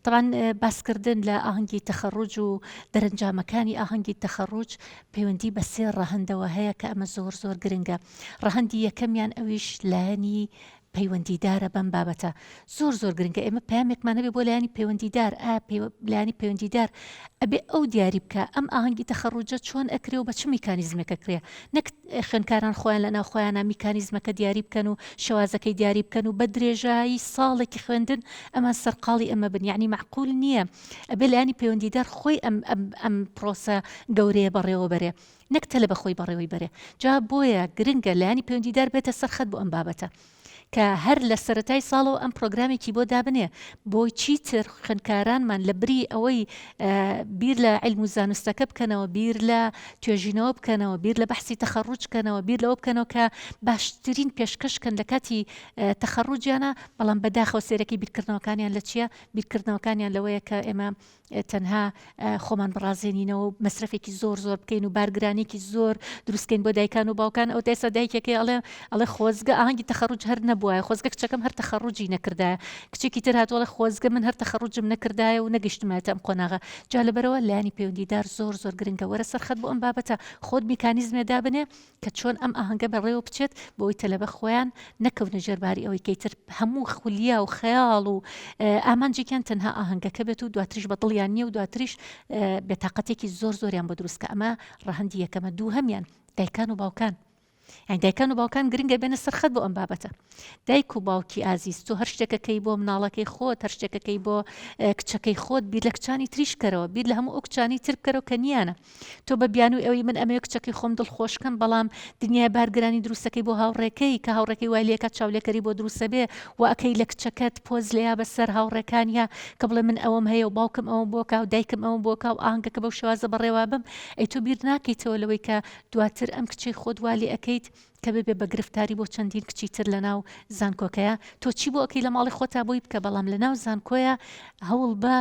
تەبعەن باسکردن لە ئاهەنگی تەخەڕوج و دەرەنجامەکانی ئاهەنگی تەخەڕوج پەیوەندی بە سێ ڕەهەندەوە هەیە کە ئەمە زۆر زۆر گرنگە. ڕەهەندی یەکەمیان ئەویش لایەنی پەیوەندیدارە بەم بابەتە. زۆر زۆر گرنگە ئێمە پەیامێکمان هەبێ بۆ لایەنی پەیوەندیدار، ئایا لایەنی پەیوەندیدار ئەبێ ئەو دیاری بکا ئەم ئاهەنگی تەخەڕوجە چۆن ئەکرێ و بە چ میکانیزمێک ئەکرێ؟ نەک. خوێندکاران خۆیان لە ناو خۆیانا میکانیزمەکە دیاری بکەن و شێوازەکەی دیاری بکەن و بە درێژایی ساڵێکی خوێندن ئەمان سەرقاڵی ئەمە بن یەعنی مەعقول نییە ئەبێ لایەنی پەیوەندیدار خۆی ئەم ئەم ئەم پڕۆسە گەورەیە بەڕێوە بەرێ نەک تەلەبە خۆی بەڕێوەی بەرێ جا بۆیە گرنگە لایەنی پەیوەندیدار بێتە سەر خەت بۆ ئەم بابەتە. کە هەر لە سەرەتای ساڵەوە ئەم پرۆگرامێکی بۆ دابنێ بۆ چیتر خوێندکارانمان لە بری ئەوەی بیر لە علم و زانستەکە بکەنەوە بیر لە توێژینەوە بکەنەوە بیر لە بەحسی تەخەڕوج کەنەوە بیر لەوە بکەنەوە کە باشترین پێشکەشکەن لە کاتی تەخەڕوجیانە بەڵام بەداخەوە سێرەکەی بیرکردنەوەکانیان لە چییە بیرکردنەوەکانیان لەوەیە کە ئێمە تەنها خۆمان بڕازێنینەوە و مەسرەفێکی زۆر زۆر بکەین و بارگرانێکی زۆر دروستکەین بۆ دایکان و باوکان ئەو دایسا دایکەکەی ئەڵێ ئەڵێ خۆزگە ئاهنگی تەخەڕوج هەر نەبووە خۆزگە کچەکەم هەر تەخەڕوجی نەکردایە کچێکی تر هاتووەڵە خۆزگە من هەر تەخەڕوجم نەکردایە و نەگەشتمایە ئەم قۆناغە جا لەبەرەوە لایانی پەیوەندیدار زۆر زۆر گرنگە وەرە سەرخەت بۆ ئەم بابەتە خۆت میکانیزمێ دابنێ کە چۆن ئەم ئاهەنگە بەڕێوە بچێت بۆی تەلەبە خۆیان نەکەونە ژێر باری ئەوەی کەیتر هەموو خولیا و خەیاڵ و ئامانجێکیان تەنها ئاهەنگەکە بێت و دواتریش بە دڵیان نییە و دواتریش بێتاقەتێکی زۆر زۆریان بۆ دروستکە ئەمە ڕەهندی یەکەمە دوو هەمیان دایکان و باوکان یان دایکان و باوکان گرنگە بێنە سەرخەت بۆ ئەم بابەتە دایک و باوکی ئازیز تۆ هەر شتێکەکەی بۆ مناڵەکەی خۆت هەر شتێکەکەی بۆ کچەکەی خۆت بیر لە کچانی تریشکەرەوە بیر لە هەموو ئەو کچانی تر بکەرەوە کە نیانە تۆ بە بیانوی ئەوەی من ئەمەوێ کچەکەی خۆم دڵخۆش کەم بەڵام دنیای بارگرانی دروستەکەی بۆ هاوڕێکەی کە هاوڕێکەی وای لێکە چاولێکەری بۆ دروستە بێ و ئەکەی لە کچەکەت پۆز لێیا بەسەر هاوڕێکانیا کە بڵێ من ئەوەم هەیە و باوکم ئەوم بۆ کاو دایکم ئەوم بۆ کاو ئاهنگەکە بەو شێوازە بەڕێوا بم ئەی تۆ بیر ناکەیتەوە لەوەی کە دواتر ئەم کچەی خۆت وا لێ ئەکەیت کە ببێ بە گرفتاری بۆ چەندین کچی تر لە ناو زانکۆکەیا تۆ چی بۆ ئەکەی لە ماڵی خۆتا بۆی بکە بەڵام لە ناو زانکۆیا هەوڵ بە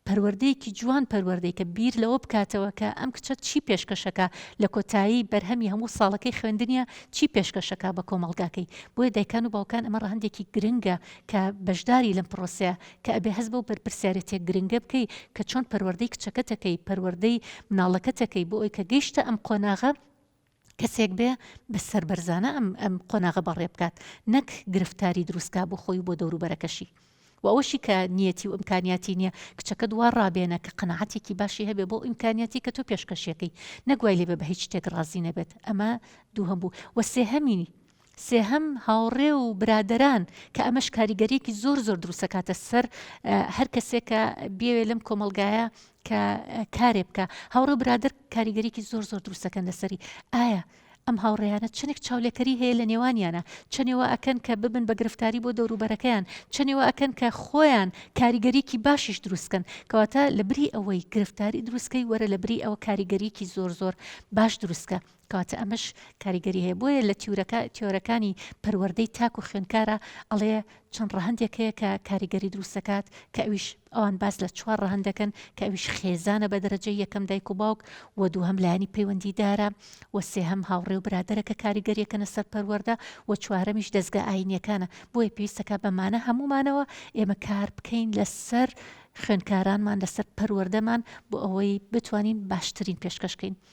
پەروەردەیەکی جوان پەروەردەی کە بیر لەوە بکاتەوە کە ئەم کچە چی پێشکەشەکە لە کۆتایی بەرهەمی هەموو ساڵەکەی خوێندنیە چی پێشکەشەکە بە کۆمەڵگاکەی بۆیە دایکان و باوکان ئەمە ڕەهەندێکی گرنگە کە بەشداری لەم پرۆسەیە کە ئەبێ هەز بەو بەرپرسیارەتێک گرنگە بکەی کە چۆن پەروەردەی کچەکەتەکەی پەروەردەی مناڵەکەتەکەی بۆ ئەوی کە گەیشتە ئەم قۆناغە کەسێک بێ بە سەربەرزانە ئەم ئەم قۆناغە بەڕێ بکات نەک گرفتاری دروستکا بۆ خۆی و بۆ دەوروبەرەکەشی و ئەوەشی کە نیەتی و ئمکانیاتی نییە کچەکە دوا ڕابێنە کە قەنەعاتێکی باشی هەبێ بۆ ئیمکانیاتی کە تۆ پێشکەشیەکەی نەگوای لێبێ بە هیچ شتێک ڕازی نەبێت ئەمە دووهەم بوو وە سێهەمینی سێهەم، هاوڕێ و برادەران، کە ئەمەش کاریگەرییەکی زۆر زۆر دروست دەکاتە سەر هەر کەسێک کە بیەوێت لەم کۆمەڵگایە کە کارێ بکا. هاوڕێ و برادەر کاریگەرییەکی زۆر زۆر دروست دەکەن لەسەری. ئایا ئەم هاوڕێیانە چەنێک چاولێکەری هەیە لە نێوانیانا؟ چەنێ وا ئەکەن کە ببن بە گرفتاری بۆ دەوروبەرەکەیان؟ چەنێ وا ئەکەن کە خۆیان کاریگەریی باشیش دروست کەن؟ کەواتە لەبری ئەوەی گرفتاری دروست کەی وەرە لەبری ئەوە کاریگەریی زۆر زۆر باش دروست کە. کەواتە ئەمەش کاریگەری هەیە بۆیە لە تیورەکە تیۆرەکانی پەروەردەی تاک و خوێنکارە ئەڵێ چەند ڕەهندێک هەیە کە کاریگەری دروستەکات کە ئەویش ئەوان باس لە چوار ڕەهندەکەن کە ئەویش خێزانە بە دەرەجە یەکەم دایک و باوک و دوو هەم لایانی پەیوەندیدارە و سێ هەم هاوڕێ و برادرە کە کاریگەریەکەنە سەر پەروەەردە و چوارەمیش دەستگا ئاینیەکانە بۆیە پێویستەکە بەمانە هەمومانەوە ئێمە کار بکەین لەسەر خوێنکارانمان لەسەر پەروەەردەمان بۆ ئەوەی بتوانین باشترین پێشکەشکەین.